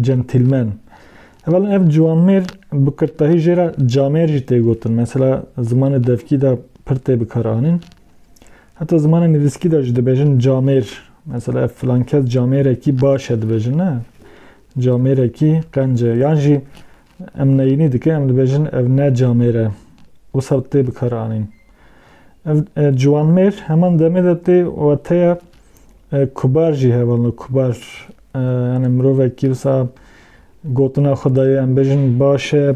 Gentîlmen. Heva lan ev ciwanmêr bi kirtdahî jê re camêr jî tê gotin. Mesela zimanê devkî de pir tê bikaranîn. Heta zimanê nivîskî de jî dibêjin camêr. Mesela ev filankes camêrekî baş e dibêjin ne. Camêrekî qence. Yan jî Em neyînî dikin, em dibêjin ev ne camêr e. Wisa bi tê bikaranîn. Ev ciwanmêr heman demê de tê û teye kubar jî hevalno kubar. Yani mirovekî wisa gotina xwe dayê em bêjin baş e,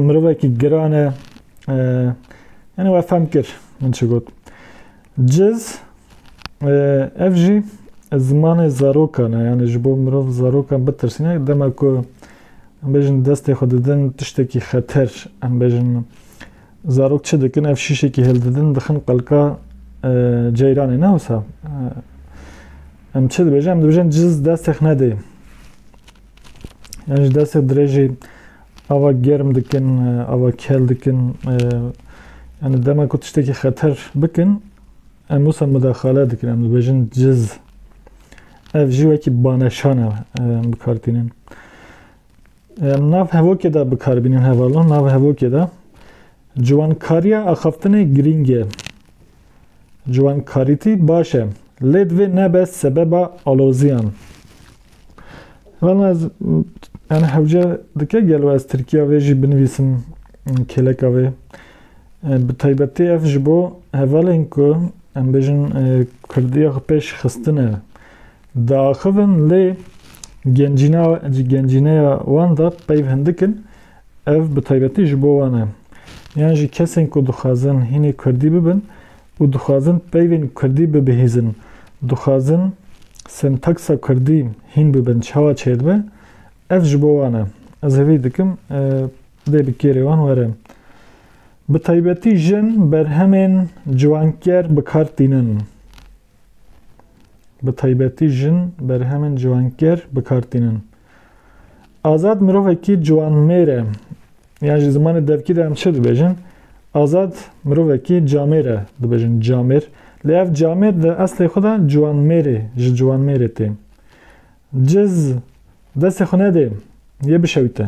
mirovekî giran e. Yani we fehm kir min çi got. Ciz, ev jî zimanê zarokan e, yanî ji bo mirov zarokan bitirsîne, dema ku em bêjin destê xwe didin tiştekî xeter, em bêjin zarok çi dikin, ev şîşekî hêldidin dixin qelka e, ceyranê ne wisa. E, em çi dibêjin? Em dibêjin ciz destê xwe nedê. Yan ji destê dirêjê ava germ dikin, ava kel dikin. Yani dema ku tiştekî xeter bikin, em wisa mudaxale dikin, em dibêjin ciz. Ev jî wekî baneşan e em bikar tînin. Em nav hevokê de bikar bînin hevalon, nav hevokê de ciwankariya axaftinê girîng e. Ciwankarîtî baş e lê divê nebe sebeba aloziyan. Vana ez yani hewce dike gelo ez Tirkiya vê jî binivîsim kêleka vê. Bi taybetî ev ji bo hevalên ku em bêjin Kurdiya xwe pêş xistine diaxivin lê gencîna gencîneya wan de peyv hindik in Ev bi taybetî ji bo wan e. Yan jî kesên ku dixwazin hînê Kurdî bibin û dixwazin peyvên Kurdî bibihîzin, dixwazin sentaksa Kurdî hîn bibin çawa çêdibe, ev ji bo wan e. Ez hêvî dikim dê bi kêrê wan were. Bi taybetî jin berhemên ciwanker bi kar tînin. bi taybetî jin berhemên ciwankêr bi kar tînin. Azad mirovekî ciwanmêr e. Yan ji zimanê devkî de em çi dibêjin? Azad mirovekî camêr e dibêjin camêr. Lê ev camêr di eslê xwe de ciwanmêrê ji ciwanmêrê tê. Ciz destê xwe nedê yê bişewite.